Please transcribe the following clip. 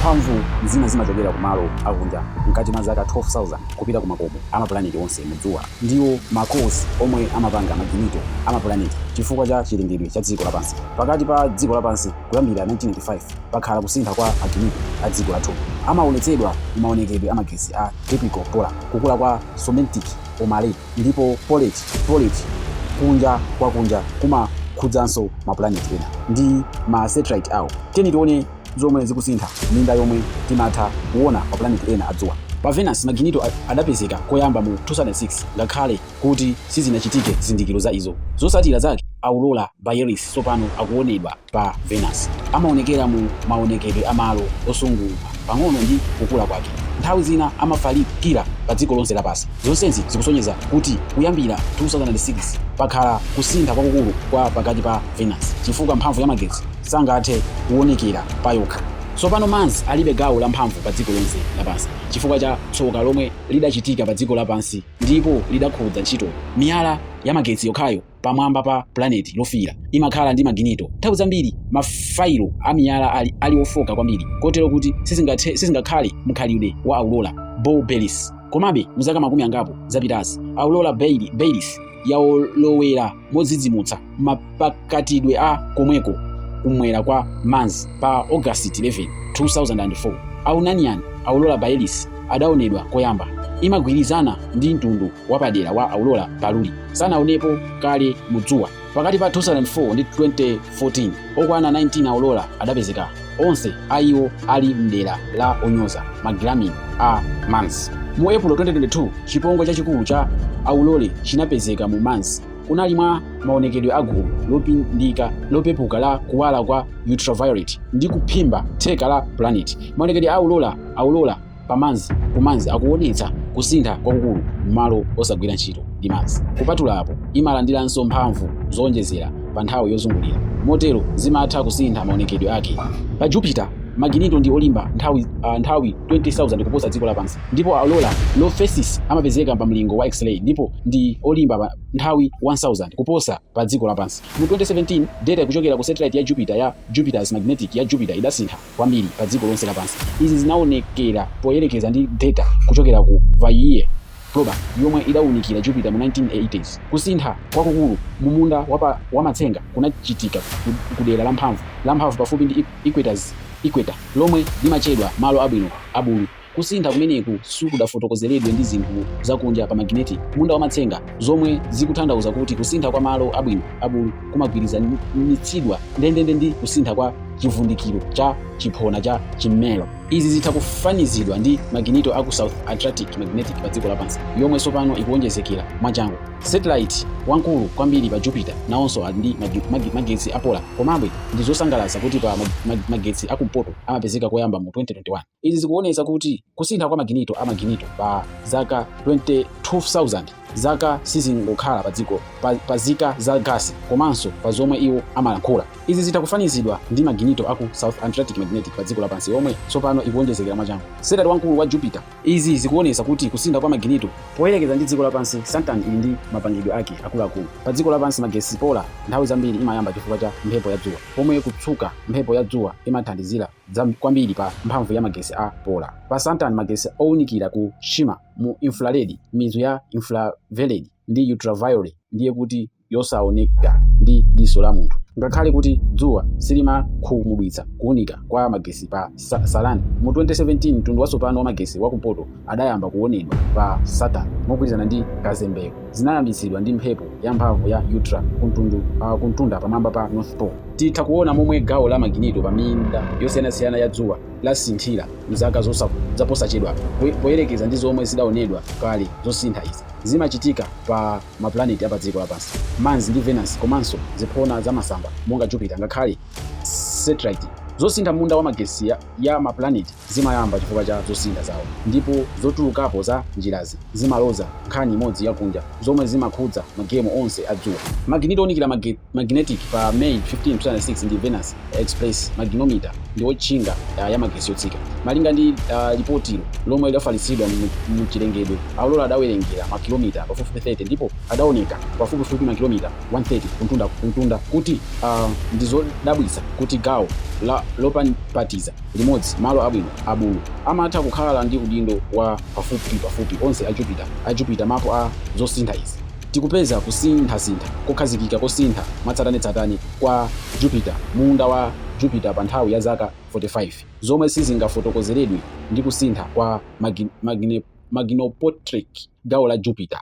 Mphamvu zina zimachokera ku malo akunja mkati mwa zaka 12,000 kupita ku makomo a mapulaneti onse mu dzuwa. Ndiwo ma cores omwe amapanga maginito a mapulaneti. Chifukwa cha chilengedwe cha dziko lapansi pakati pa dziko lapansi kuyambira 1985, pakhala kusintha kwa maginito a dziko lathu. Amawonetsedwa mu mawonekedwe a magetsi a typical polar, kukula kwa somentic omale, ndipo polate, poled, kunja kwa kunja kumakhudzanso mapulaneti ena ndi ma satellite awo. Tiyeni tione. zomwe zikusintha minda yomwe timatha kuona mapulaneti ena a dzuwa. Pa Venus, maginito adapezeka koyamba mu 2006 ngakhale kuti sizinachitike zizindikiro za izo. Zotsatira zake, aurora borealis tsopano akuonedwa pa Venus. Amaonekera mu maonekedwe a malo osungunuka pang'ono ndi kukula kwake. Nthawi zina amafalikira pa dziko lonse lapansi. Zonsezi zikusonyeza kuti kuyambira 2006 pakhala kusintha kwakukulu kwa pakati pa Venus chifukwa mphamvu ya magetsi sangathe kuonekera payokha. Tsopano Mars alibe gawo la mphamvu pa dziko lonse lapansi chifukwa cha tsoka lomwe lidachitika pa dziko lapansi ndipo lidakhudza ntchito. Miyala ya magetsi yokhayo pamwamba pa pulaneti lofiira imakhala ndi maginito. Nthawi zambiri mafayilo a miyala ali ofooka kwambiri kotero kuti sizingakhale mkhalidwe wa aurora borealis. Komabe, mu zaka makumi angapo zapitazi, aurora borealis. yalowera modzidzimutsa mapakatidwe a komweko kumwera kwa Mars pa August 11, 2004. Aunanian aurora borealis adaonedwa koyamba. Imagwirizana ndi mtundu wapadera wa aurora paluli. Sanaonepo kale mu dzuwa. Pakati pa 2004 ndi 2014, okwana 19 aurora adapezeka. onse a iwo ali mdera la onyoza magiramini a mars mu april 2022 chipongwe chachikulu cha aurora chinapezeka mu mars kunali mwa maonekedwe a gulu lopindika lopepuka la kuwala kwa ultraviolet ndi kuphimba theka la planet maonekedwe a aurora aurora pa Mars ku Mars akuwonetsa kusintha kwakukulu m'malo osagwira ntchito ndi Mars. Kupatula apo, imalandiranso mphamvu zowonjezera pa nthawi yozungulira, motero zimatha kusintha maonekedwe ake. Pa Jupiter, maginito ndi olimba nthawi nthawi 20,000 kuposa dziko lapansi, ndipo aurora low phases amapezeka pa mlingo wa X-ray ndipo ndi olimba nthawi 1,000 kuposa pa dziko lapansi. Mu 2017, deta kuchokera ku satellite ya Jupiter ya Jupiter's Magnetic ya Jupiter idasintha. kwambiri pa dziko lonse lapansi. Izi zinaonekera poyerekeza ndi deta kuchokera ku Voyager probe yomwe idaunikira Jupiter mu 1980s. Kusintha kwakukulu mu munda wa matsenga kunachitika ku dera la mphamvu pafupi ndi equator, lomwe limatchedwa malo abwino a bulu. Kusintha kumeneku sikudafotokozeredwe ndi zinthu zakunja pa magnetic munda wa matsenga zomwe zikutanthauza kuti kusintha kwa malo abwino a bulu kumagwirizanitsidwa ndendende ndi kusintha kwa chivundikiro cha chiphona cha chimmero. Izi zitha kufanizidwa ndi maginito aku South Atlantic Magnetic pa dziko lapansi yomwe tsopano ikuwonjezekera mwachangu. Satellite wamkulu kwambiri pa Jupiter nawonso ali ndi magetsi a polar. Komabe, ndi zosangalatsa kuti pa magetsi a kumpoto amapezeka koyamba mu 2021. Izi zikuonetsa kuti kusintha kwa maginito a maginito pa zaka 22,000 zaka sizingokhala padziko pa zika za gasi komanso pa zomwe iwo amalankhula. Izi zitha kufanizidwa ndi maginito aku South Atlantic Magnetic pa dziko lapansi yomwe tsopano ikuwonjezekera mwachangu. Satellite wamkulu wa Jupiter. Izi zikuonetsa kuti kusintha kwa maginito poyerekeza ndi dziko lapansi, Saturn ili ndi mapangidwe ake akuluakulu. Pa dziko lapansi magetsi polar nthawi zambiri imayamba chifukwa cha mphepo ya dzuwa, pomwe kutsuka mphepo ya dzuwa imathandizira kwambiri pa mphamvu ya magetsi a polar. Pa Saturn, magetsi ounikira ku shimmer mu infrared, mizu ya infrared ndi ultraviolet, ndiye kuti yosaoneka ndi diso la munthu. Ngakhale kuti dzuwa silimakhumudwitsa kuunika kwa magetsi pa Saturn, mu 2017 mtundu watsopano wa magetsi wa kumpoto adayamba kuwonedwa pa Saturn mogwirizana ndi kazembeyo zinayambitsidwa ndi mphepo yamphamvu ya ultra kumtunda pamwamba pa North Pole. Titha kuona momwe gawo la maginito pa minda yosiyanasiyana ya dzuwa lasinthira m'zaka zaposachedwa poyerekeza ndi zomwe zidaonedwa kale. Zosintha izi zimachitika pa mapulaneti a padziko lapansi, Mars ndi Venus, komanso ziphona za masamba monga Jupiter ngakhale satellite. Zosintha m'munda wa magetsi ya mapulaneti zimayamba chifukwa cha zosintha zawo, ndipo zotulukapo za njirazi zimaloza nkhani imodzi yakunja, zomwe zimakhudza magemu onse a dzuwa. Maginito ounikira magnetic pa May 15, 2006 ndi Venus express magnetometer ndi wotchinga ya magetsi yotsika. Malinga ndi lipotilo, lomwe lidafalitsidwa mu chilengedwe, aurora adawerengera makilomita pafupifupi 30 ndipo adaoneka pafupifupi makilomita 130 kumtunda kuti ndi zodabwitsa kuti gawo lopapatiza. limodzi malo abwino a bulu amatha kukhala ndi udindo wa pafupi pafupi onse a Jupiter a Jupiter mapu a zosintha izi tikupeza kusinthasintha kokhazikika kosintha mwatsatanetsatane kwa Jupiter munda wa Jupiter pa nthawi ya zaka 45 zomwe sizingafotokozeredwe ndi kusintha kwa magnetic gawo la Jupiter.